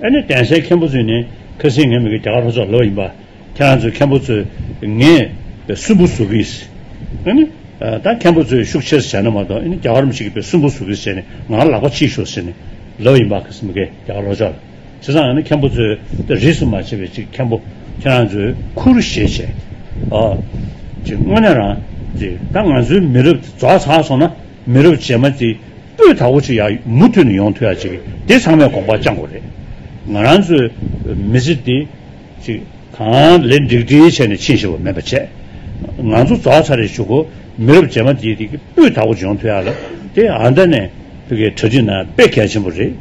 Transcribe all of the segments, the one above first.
ཨ་ནེ་གདན་སའི་མཁན་པོ་ཚོས་ནི་ཁ་སིང་ངས་མི་གི་རྒྱ་གར་ལྷོ་ཕྱོགས་ལོག་ཡིན་པ་ཁྱེད་རང་ཚོའི་མཁན་པོ་ཚོས་ངས་སུན་པོ་བཟོ་གི་ཨ་ནེ་ད་མཁན་པོ་ཚོས་ཤུགས་ཆེར་བྱས་ན་མ་གཏོགས་ཨ་ནེ་རྒྱ་གར་མི་ཞིག་གི་སུན་པོ་བཟོ་གི་ཟེར་ནས་ང་ལ་ལག་པ་ཕྱིས་ཤོག་ཟེར་ནས་ལོག་ཡིན་པ་ཁ་སིང་མི་གི་རྒྱ་གར་ལྷོ་ཕྱོགས་ལ་བྱས་ཙང་ཨ་ནེ་མཁན་པོ་ཚོས་རིས་སུ་མ་ཆད་པའི་ཅིག་མཁན་པོ་ཁྱེད་རང་ཚོས་ཁུ་རུ་ཞེས་བྱས་ཨོ་ཅིག་དངོས་གནས་རང་ཅིག་ད་ང་ཚོའི་མི་རབས་རྫོགས་ཚར་སོང་ན། མི་རབས་རྗེས་མ་དེ་སྤུས་དག་པོ་ཅིག་ཡ་མུ་མཐུད་ནས་ཡོང་ཐུབ་ཡ་ཅིག་དེ་ཚང་མས་དགོངས་པ་བཅངས་དགོས་རེད། ང་རང་ཚོའི་མི་ཚེ་འདི་ཅིག་གང་ལེགས་འགྲིག་འགྲིག་བྱས་ནས་ཕྱིན་ཤེས་པ་མེད་པ་བྱས། ང་ཚོ་རྫོགས་ཚར་རེ་བཞུགས་གོ། མི་རབས་རྗེས་མ་དེ་དེ་སྤུས་དག་པོ་ཅིག་ཡོང་ཐུབ་ཡ་ལ་དེ་ཨ་མདའ་ནས་གྲ་སྒྲིག་ན་དཔེ་གལ་ཆེན་པོ་རེད།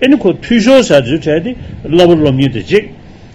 ཨེ་ནི་ཁོ་འཐུས་ཤོར་ཟེར་དུས་གྲས་དེ་སླ་པོ་སློབ་ཉིན་དེ་གཅིག།